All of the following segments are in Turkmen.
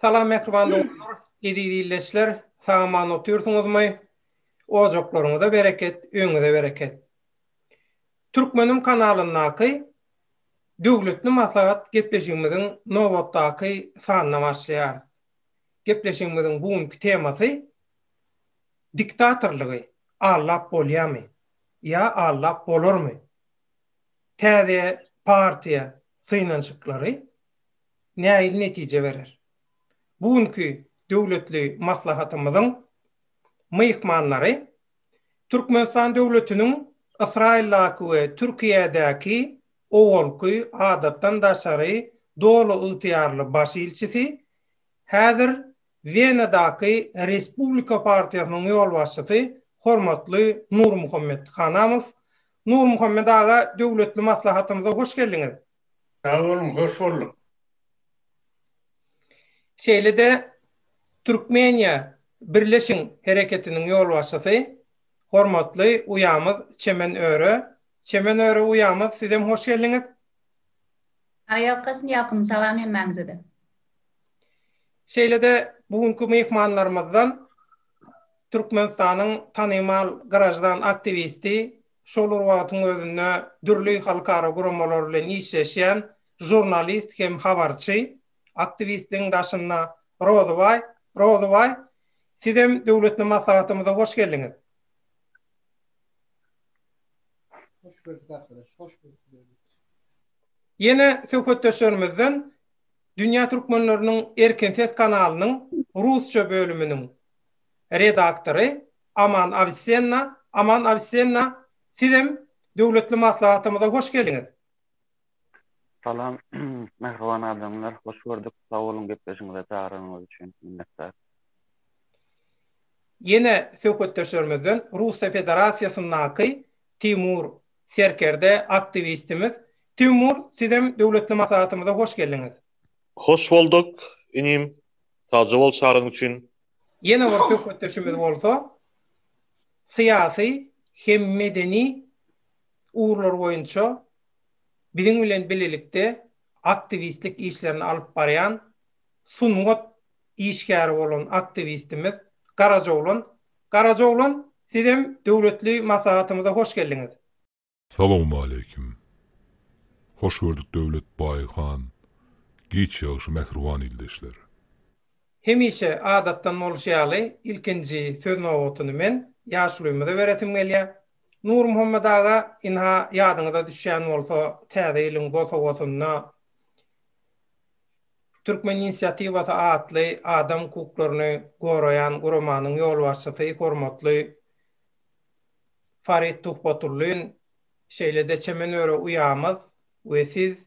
Salam mähriban dogumlar, eziz illeçler, sagaman otyrsyňyzmy? Ojaklaryňyza bereket, öňüňize bereket. Türkmenim kanalyndaky Döwletli maslahat gepleşigimiziň nobatdaky sanyna başlaýarys. Gepleşigimiziň bu günki temasy Diktatorlygy allap bolýamy? Ýa allap bolarmy? Täze partiýa synanyşyklary nähili netije berer? Bu günki döwletli maslahatymyzyň myhmanlary Türkmenistan döwletiniň Ysraýyldaky we Türkiýedäki owalky Adatdan daşary doly ygtyýarly baş ilçisi, häzir Wenadaky Respublika partiýasynyň ýolbaşçysy hormatly Nurmuhammet Hanamow. Nurmuhammet aga, döwletli maslahatymyza hoş geldiňiz! Sag boluň, hoş bolduk. Şeýle-de Türkmeniýa birleşiň hereketiniň ýolbaşçysy, hormatly uýamyz Çemen Öre. Çemen Öre uýamyz, sizem hoş geldiňiz. Aýalkasyn ýakymly salam hemmäňize-de. Şeýle-de bu günki myhmanlarymyzdan Türkmenistanyň tanymal graždan aktiwisti, şol bir wagtyň özünde dürli halkara guramalar bilen işleşýän žurnalist hem habarçy, aktiwistiň daşynda Rozybaý, Rozybaý, sizem döwletli maslahatymyza hoş geldiňiz. Hoş gördük arkadaş, hoş gördük. Ýene söhbetdeşlerimizden Dünýä türkmenleriniň erkin ses kanalynyň rusça bölüminiň redaktory Aman Awisenna, Aman Awisenna, sizem döwletli maslahatymyza hoş geldiňiz! Salam, mähriban adamlar! Hoş gördük, sag boluň gepleşigiňize çagyranyňyz üçin minnetdar! Ýene söhbetdeşlerimizden Russiýa Federasiýasyndaky Timur Serkerde, aktiwistimiz. Timur, sizem döwletli maslahatymyza hoş geldiňiz! Hoş bolduk, inim! Sagja bol çagyryň üçin, Ýene bir söhbetdeşimiz bolsa syýasy hem medeni ugurlar boýunça biziň bilen bilelikde aktiwistlik işlerini alyp barýan sungat işgäri bolan aktiwistimiz Garajoglan. Garajoglan, sizem döwletli maslahatymyza hoş geldiňiz. Salowmaleýkim. Hoş gördük Döwlet baý han. Giç ýagşy mähriban ildeşler. Hemişe adatdan bolşy ýaly ilkinji söz nobatyny men ýaşulymyza beresim gelýä. Nurmuhammet aga ynha ýadyňyza düşýän bolsa täze ýylyň bosagosynda Türkmen inisiatiwasy atly adam hukuklaryny goraýan guramanyň ýolbaşçysy hormatly Farid Tuhbatullin, şeýle-de Çemen öre uýamyz we siz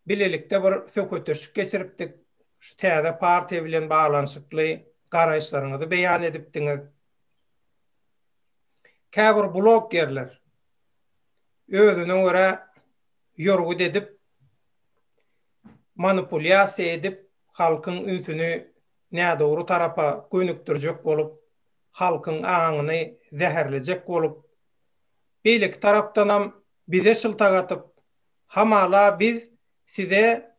bilelikde bir söhbetdeşlik geçiripdik. Şu täze partiýa bilen baglanyşykly garaýyşlaryňyzy beýan edipdiňiz. Käbir blogerler özüne görä ýorgut edip, manipulýasiýa edip, halkyň ünsüni nädogry tarapa gönükdirjek bolup, halkyň aňyny zäherlejek bolup, beýleki tarapdanam bize şyltak atyp, hamala biz size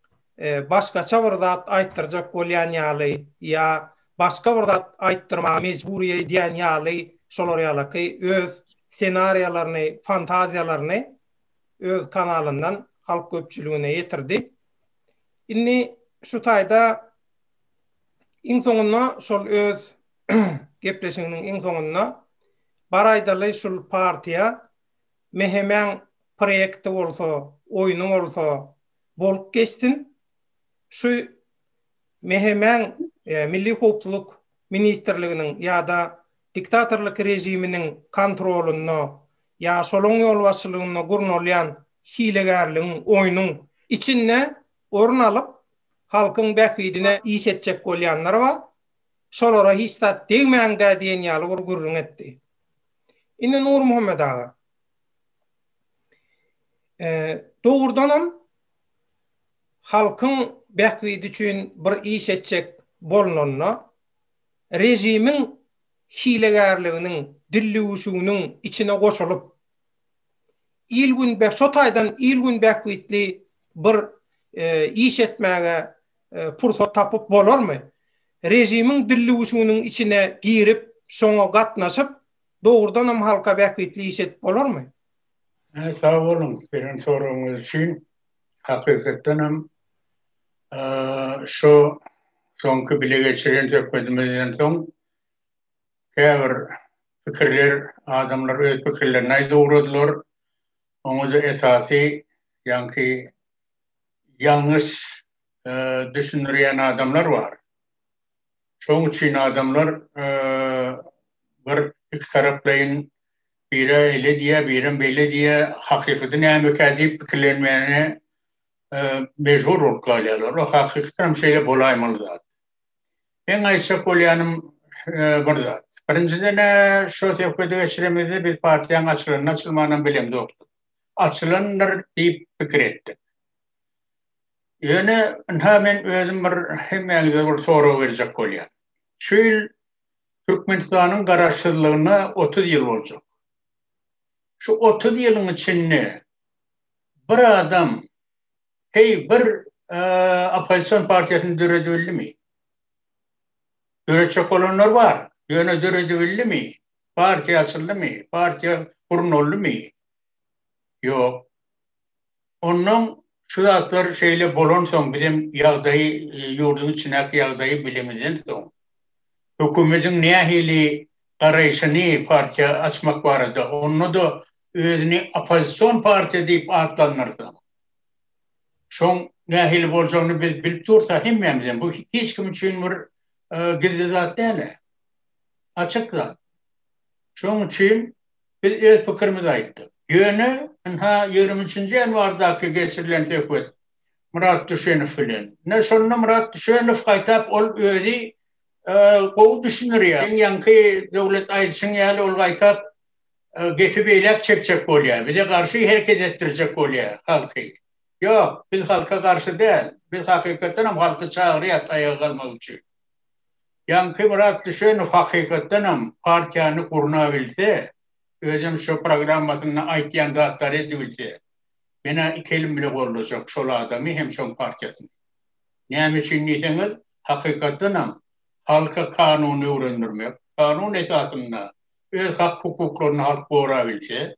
başgaça bir zat aýtdyrjak bolýan ýaly ýa başga bir zat aýtdyrmaga mejbur edýän ýaly şolar ýalaky öz senariýalaryny, fantaziýalaryny öz kanalyndan halk köpçüligine ýetirdi. Indi şu taýda iň soňunda şol öz gepleşiginiň iň soňunda, Bar aýdaly şul partiýa, Mehemäň proýekti bolsa, oýny bolsa bolup geçsin. Şu Mehemäň Milli howpsuzlyk ministrliginiň ýa-da diktatorlyk režiminiň kontrolynda ýa şolaň ýolbaşçylygynda gurnalýan hilegärligiň, oýnuň içinde orun alyp, halkyň bähbidine iş etjek bolýanlar bar. şolara hiç zat degmäň-dä diýen ýaly bir gürrüň etdi. Indi Nurmuhammet aga, dogrudanam, halkyň bähbidi üçin bir iş etjek bolnanda, režimiň hilegärliginiň, dillüwüşiginiň içine goşulyp, il-gün, şo taýdan il-gün bähbitli bir iş etmäge pursat tapyp bolarmy? Režimiň dillüwüşiginiň içine girip, şoňa gatnaşyp, dogrudanam halka bähbitli iş edip bolarmy? Hä, sag boluň, beren soragyňyz üçin. Hakykatdan hem, şu soňky bile geçiren söhbedimizden soň, käbir pikirler, adamlar öz pikirlerini aýdyp ugradylar. Oňa-da esasy, ýaňky ýalňyş düşündirýän adamlar bar. Şoň üçin adamlar bir ikitaraplaýyn biri ele diýýär, birem bele diýýär, hakykaty nämekä diýip pikirlenmäne mejbur bolup galýarlar. Bu hakykatdan hem şeýle bolaýmaly zat. Men aýtjak bolýanym bir zat. Birinjiden-ä şu söhbedi geçiremizde biz partiýanyň açylanynam-açylmanynam bilemzokdyk. açylandyr diýip pikir etdik. Ýöne, ynha men özüm bir hemmäňize bir sorag berjek bolýan. Şu ýyl Türkmenistanyň Garaşsyzlygyna otuz ýyl boljak. Şu otuz ýylyň içinde bir adam heý bir oppozision partiýasyny döredibildimi? Döretjek bolanlar bar, ýöne döredibildimi? Partiýa açyldymy? Partiýa gurnaldymy? Ýok. Onnoň şu zatlar şeýle bolansoň, bizem ýagdaýy, ýurduň içindäki ýagdaýy bilenimizden soň, hökümetiň nähili garaýşyny partiýa açmak barada, onda-da özüni oppozision partiýa diýip atlandyrsa, şoň nähili boljagyny biz bilip dursa hemmämizem, bu hiç kim üçin bir gizli zat däl-ä. açyk zat. Şonuň üçin biz öz pikirimizi aýtdyk. Ýöne, ynha, ýigrimi üçünji ýanwardaky geçirilen söhbet Myrat Düşenow bilen. Ine, şonda Myrat Düşenow gaýtap ol özi gowy düşündirýär. Seň ýaňky Döwlet aýdyşyň ýaly, ol gaýtap gepi beýläk çekjek bolýar. Bize garşy hereket etdirjek bolýar halky. Ýok, biz halka garşy däl. Biz hakykatdanam halky çagyrýarys aýaga galmak üçin. Ýaňky biraz düşen hakykatdanam partiýany gurnabilse, özem şu programmasynda aýtýan zatlary edibilse, menä iki elim bile goldajak şol adamy hem şoň partiýasyny. Näme üçin diýseňiz, hakykatdanam halka kanuny öwrendirmek, kanun esasynda öz hak-hukuklaryny halk gorabilse,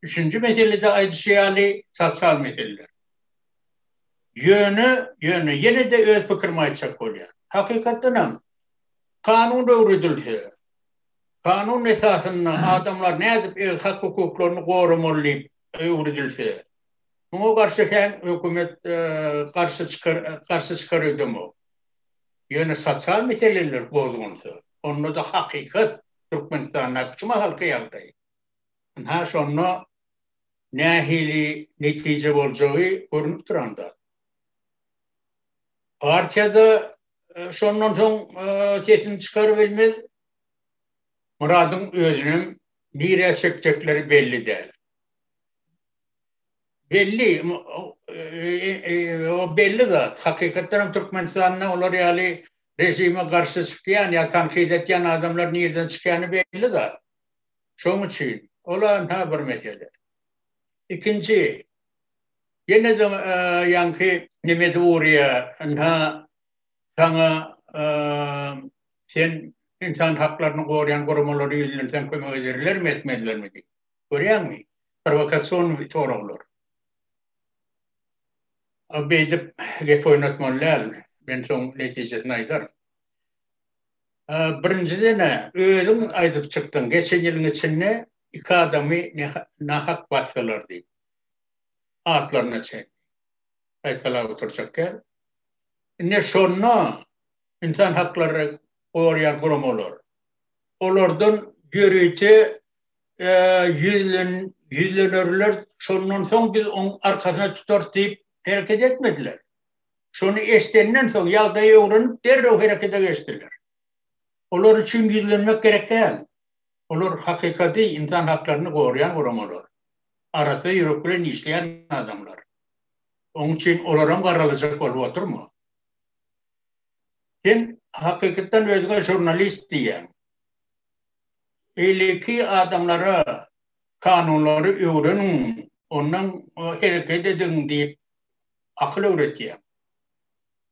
üçünji meselede aýdyşy ýaly sosial meseleler. Ýöne, ýöne ýene-de öz pikirimi aýtjak bolýan. Hakykatdan hem, kanun öwredilse, kanun esasynda adamlar nädip öz hak-hukuklaryny goramaly diýip öwredilse, muňa garşy hem hökümet garşy çykar, garşy çykar öýdemok. Ýöne sosial meseleler bozgunsa, onda-da hakykat, Türkmenistandaky şu mahalky ýagdaý. Ynha, şonda nähili netije boljagy görnüp duran zat. Partiýada şondan soň sesini çykar bilmez Myradyň özüniň nirä çekjekleri belli däl. Belli, o belli zat. Hakykatdan hem Türkmenistanda olar ýaly režime garşy çykýan ýa tankyt etýän adamlar nirden çykýany belli zat. Şoň üçin ol ynha bir mesele. Ikinji, ýene-de ýaňky nemesi urýa, ynha saňa sen ynsan haklaryny gorýan guramalary ýüzlenseň kömek ederlermi, etmezlermi diýip. Görýäňmi? Prowokasion soraglar. Beýdip gep oýnatmaly däl, men soň netijesini aýdaryn. Birinjiden-ä, özüň aýdyp çykdyň, geçen ýylyň içinde iki adamy nähak basdylar diýip. Atlaryna çenli gaýtalap oturjak däl. Indi şonda ynsan haklary goraýan guramalar olardan ýörite ýüzlenerler, şondan soň biz oň arkasyna tutarys diýip hereket etmediler. Şony eşidenden soň, ýagdaýy öwrenip, derrew herekete geçdiler. Olar üçin gizlenmek gerek däl. Olar hakykaty, ynsan haklaryny goraýan guramalar. Arassa ýürek bilen işleýän adamlar. Oň üçin olaram garalajak bolup otyrmy? Sen hakykatdan özüňe žurnalist diýýäň. Beýleki adamlara kanunlary öwreniň, ondan hereket ediň diýip akyl öwretýäň.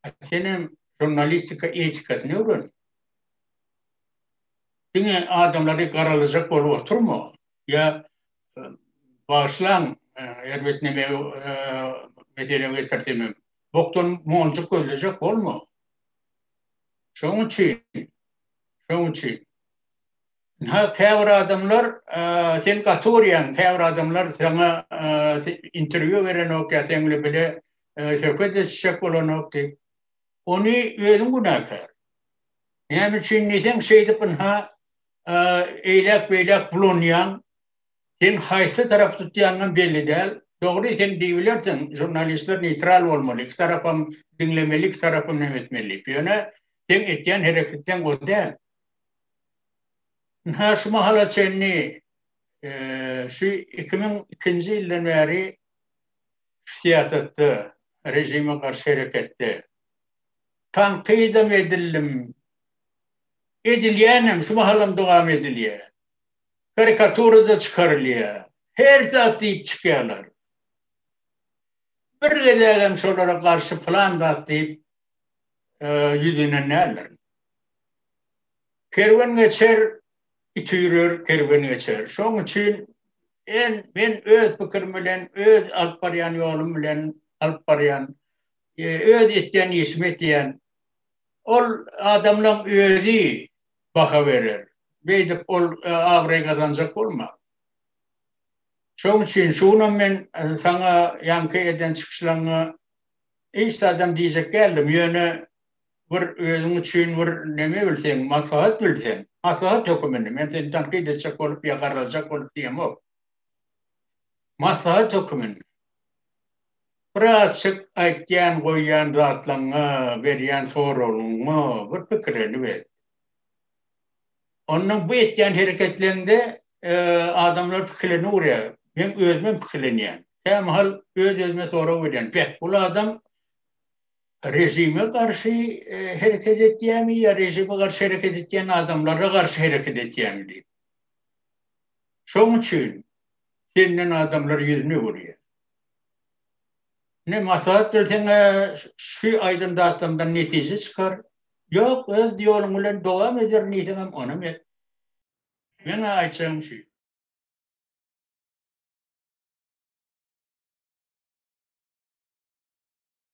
A senem žurnalistika etikasyny öwren. Diňe adamlary garalajak bolup oturma. Ýa bagyşlaň, erbetneme mesele getirdim. Bokdan monjuk gözlejek bolma. Şoň üçin, şoň üçin Ynha, käbir adamlar, sen gaty urýaň, käbir adamlar saňa interwýu berenok ýa seň bilen bile söhbet etişjek bolanok diýip. Ony özüň günäkär. Näme üçin diýseň, şeýdip ynha eýläk-beýläk bulanýaň. Sen haýsy tarap tutýanyňam belli däl. Dogry, sen diýibilersiň, žurnalistler neýtral bolmaly, iki tarapam diňlemeli, iki tarapam näme etmeli diýip. Ýöne seň etýän hereketleň o däl. Ynha, şu mahala çenli, şu iki müň ikinji ýyldan bäri syýasatda, režime garşy hereketde tankyt-am edildim, edilýänem, şu mahalam dowam edilýär. Karikatura-da çykarylýar, her zat diýip çykýarlar. Bir gezegem şolara garşy pylan zat diýip ýüz ýnen däldirin. Kerwen geçer, it üýrer, kerwen geçer. Şoň üçin en men öz pikirim bilen, öz alyp barýan ýolum bilen alyp barýan, öz etýän işimi etýän. Ol adamlaň özi baha berer. Beýdip ol abraý gazanjak bolma. Şoň üçin şu günam men saňa ýaňky eden çykyşlaňňa hiç zadam diýjek däldim, ýöne bir özüň üçin bir neme bilseň, maslahat bilseň, maslahat höküminde, men seni tankyt etjek bolup ýa garrajak bolup diýemok. Maslahat höküminde. Bir açyk aýtýan, goýýan zatlaňňa, berýän soragyňa bir pikirini ber. Ondan bu etýän hereketleňde adamlar pikirini urýar. Men özümem pikirlenýän. Kämahal öz-özüme sorag berýän. Beh, bul adam Režime garşy hereket etýärmi ýa režime garşy hereket etýän adamlara garşy hereket etýärmi diýip. Şoň üçin senden adamlar ýüzüni öwürýär. Ne maslahat berseň-ä şu aýdan zatlardan netije çykar. Ýok, öz ýoluň bilen dowam ederin diýseňem onam et. Meň-ä aýtjagym şu.